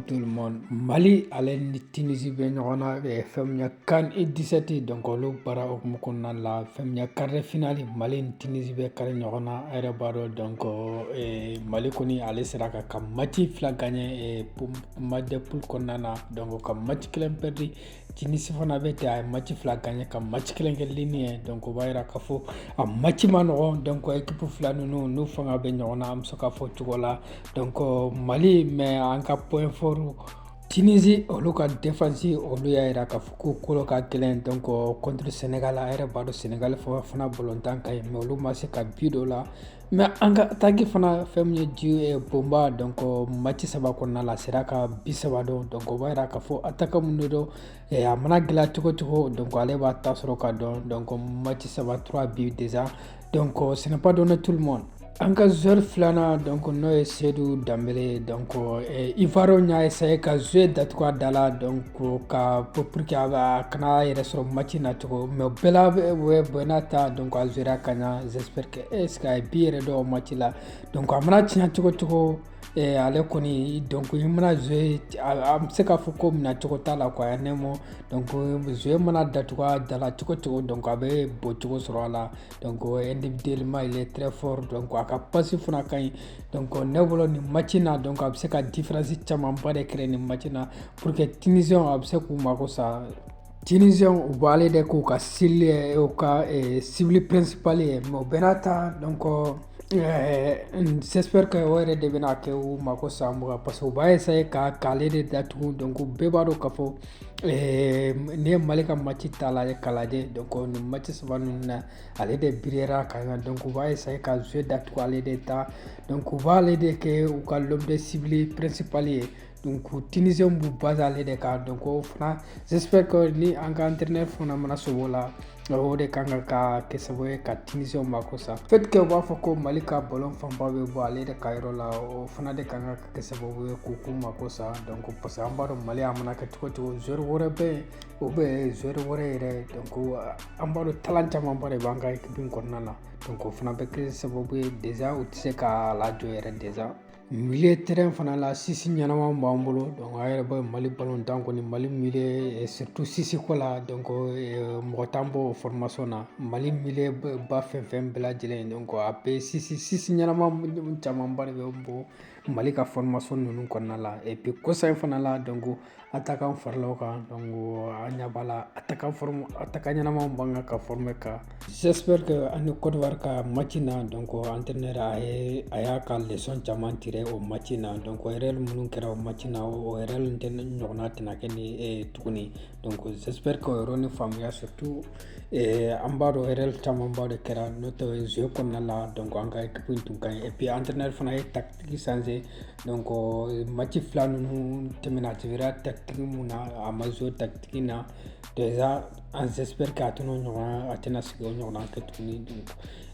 tout le monde mali ale ni tunisi bɛ ɲɔgɔn na eh, fɛn min na CAN U 17 donc olu baara hukumu kɔnɔna la fɛn min na quart de finale mali ni tunisi bɛ kari ɲɔgɔn na a yɛrɛ b'a dɔn donc eh, mali kɔni ale sera ka ka match fila gaɲɛ eh, match de poule kɔnɔna na donc ka match kelen pɛridi Tunisie fana bɛ ten a ye match fila gagné ka match kelen kɛ nul ye donc o b'a jira k'a fɔ a match man nɔgɔn donc équipe fila ninnu n'u fanga bɛ ɲɔgɔn na an bɛ se k'a fɔ o cogo la donc Mali mais an ka point fort Tunisie olu ka défense olu y'a jira k'a fɔ k'u kolo ka gɛlɛn donc contre Sénégal a yɛrɛ b'a dɔn Sénégal fana balontan ka ɲi mais olu ma se ka bi don u la Mais an ka attaque fana fɛn min ye Ndji eh, Bomba donc match saba kɔnɔna la a sera ka bi saba don donc o b'a jira k'a fɔ attaquant mun de don eh, a mana gɛlɛya cogo cogo donc ale b'a ta sɔrɔ k'a don donc match saba trois buts déjà donc ce n'est pas donné à tout le monde an ka joueur filanan donc n'o ye Seydou Dembélé donc eh, ivoirienw y'a esaye ka jeu datugu a da la donc ka pour que a kana a yɛrɛ sɔrɔ match na cogo mais bɛɛ la bɛɛ n'a ta donc a jouera ka ɲa j'espère que est-ce qu'a ye bi yɛrɛ don match la donc a mana tiɲɛ cogo cogo eh, ale kɔni donc i mana jouer an bɛ se k'a fɔ ko minɛ cogo t'a la quoi ne mɔ donc jeu mana datugu a da la cogo cogo donc a bɛ bɔ cogo sɔrɔ a la donc individuellement il est très fort donc a ka passe fana ka ɲi donc ne bolo nin match na donc a bɛ se ka différence camanba de créer nin match na pour que Tunisienw a bɛ se k'u mago sa Tiɲɛnizɛn u bɔ ale de k'u ka seli u ka sibili ppsipli ye mɛ bɛn n'a ta dɔn kɔ sɛsɛri ka o yɛrɛ de bɛna kɛ u ma ko san mugan parce que u b'a yesa ye ka k'ale de dat dɔn ko bɛɛ b'a dɔn ka fɔ ne ye mali ka mati t'a la ye kalajɛ dɔn ni mati saba ninnu na ale de biera ka kan dɔn u b'a yesa ye ka zo dat ale de ta dɔn b'ale de kɛ u ka lɔ bɛ sibili ppsipli ye donc tunisiens b'u baser ale de kan donc o fana j'espère que ni an ka entraîneur fana mana sobo la o de ka kan ka kɛ sababu ye ka tunisiens mako sa fait que u b'a fɔ ko mali ka ballon fanba bɛ bɔ ale de ka yɔrɔ la o fana de kan ka kɛ sababu ye k'u k'u mako sa donc parce que an b'a dɔn mali a mana kɛ cogo cogo joueur wɛrɛ bɛ yen o bɛ joueur wɛrɛ yɛrɛ donc an b'a dɔn talent camanba de b'an ka équipe in kɔnɔna na donc o fana bɛ kɛ sababu ye déjà u tɛ se ka lajɔ yɛrɛ déjà Milieu terrain fana la six ɲɛnama b'an bolo donc a yɛrɛ b'a mali balontan kɔni mali milieu surtout six ko la donc mɔgɔ t'an bɔ formation na mali milieu ba fɛn fɛn bɛɛ lajɛlen donc a bɛ six six ɲɛnama camanba de bɛ bɔ mali ka formation ninnu kɔnɔna la et puis kɔsa in fana la donc A ta kan faralaw kan an ɲɛ b'a la a ta a ta ɲɛnama ban kan ka f bɛ kan sɛsɛri kɛ an ni kɔrɔwa ka mati n na dɔn kɔ an tɛ ne a ye a y'a ka lesɔnon caman tigɛ o mati n na dɔn yɛrɛ minnu kɛra o mati na o yɛrɛ tɛ ɲɔgɔnna tɛna kɛ ni tuguni don sɛsɛri ka yɔrɔ ni faamuyaya sɛ tu an b'a dɔn yɛrɛ camanba de kɛra n'o tɛ z kɔnɔna la dɔn an ka tun ka ep an tɛ ne fana ye tatigi sanse donc match fila ninnu tɛmɛna tun jouéra tactique min na a ma jouer o tactique in na déjà an j'espère que a tɛna o ɲɔgɔn a tɛna segin k'o ɲɔgɔnna kɛ tuguni donc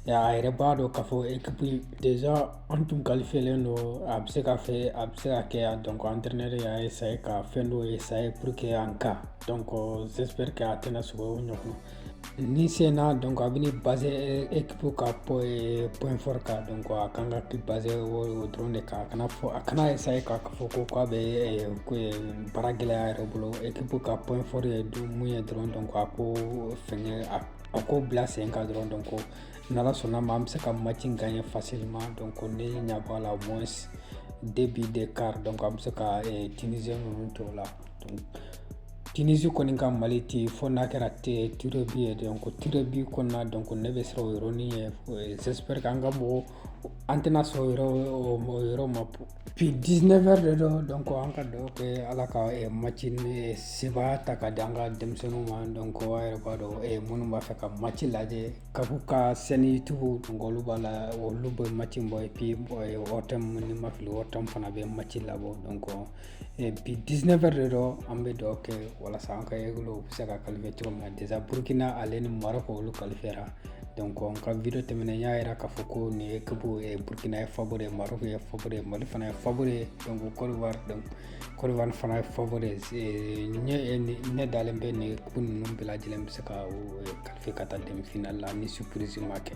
a yɛrɛ b'a dɔn k'a fɔ équipe déjà an tun qualifiélen don a bɛ se ka fɛ a bɛ se ka kɛ a donc entraîneur y'a essayer ka fɛn dɔw essayer pour que an ka donc j'espère que a tɛna segin k'o ɲɔgɔn Ni sen na dɔn a bɛ ni ba ep ka pɔɔri ka dɔn a kan ka ki ba o dɔrɔn de kan kana fɔ a kana ye sa ye k'a fɔ ko k'a bɛ baara gɛlɛyaya yɛrɛ bolo ep ka pɔɔri ye don mun ye dɔrɔn dɔn a ko fɛn a a ko bila sen ka dɔrɔn dɔn ko ni sɔnna ma an bɛ se ka mati ka ye fasima dɔn ko ne ɲɛ bɔ la mɔ de bi de ka dɔn an bɛ se ka tz ninnu tɔw la Tunisie kɔni ka Mali tɛ yen fo n'a kɛra tirs au but ye donc tirs au but kɔnɔna donc ne bɛ siran o yɔrɔnin ɲɛ j'espère que an ka mɔgɔw an tɛna sɔn o yɔrɔ o yɔrɔ ma bi 19 heures de don donc an ka dugawu kɛ Ala ka match in sebaaya ta k'a di an ka denmisɛnninw ma donc a yɛrɛ b'a dɔn minnu b'a fɛ ka match lajɛ CAF ka chaîne YouTube donc olu b'a la olu bɛ match in bɔ et puis ORTM ni n ma fili ORTM fana bɛ match labɔ donc bi diinɛfɛ de dɔn an bɛ dɔ kɛ walasa an ka yɛrɛkolo bɛ se ka kalifa cogo min na desa burukina ale ni mara ka olu kalifara dɔn an ka vi tɛmɛnen y'a jira k'a fɔ ko nin ye ka burukina ye fako de ye maro ye fako ye mali fana ye fako ye dɔnku kɔrɔwari dɔn kɔrɔwari fana ye fako de ne dalen bɛ nin ku ninnu bɛɛ lajɛlen bɛ se ka kalifa ka taa denmisɛnninfin la ni supurrisi ma kɛ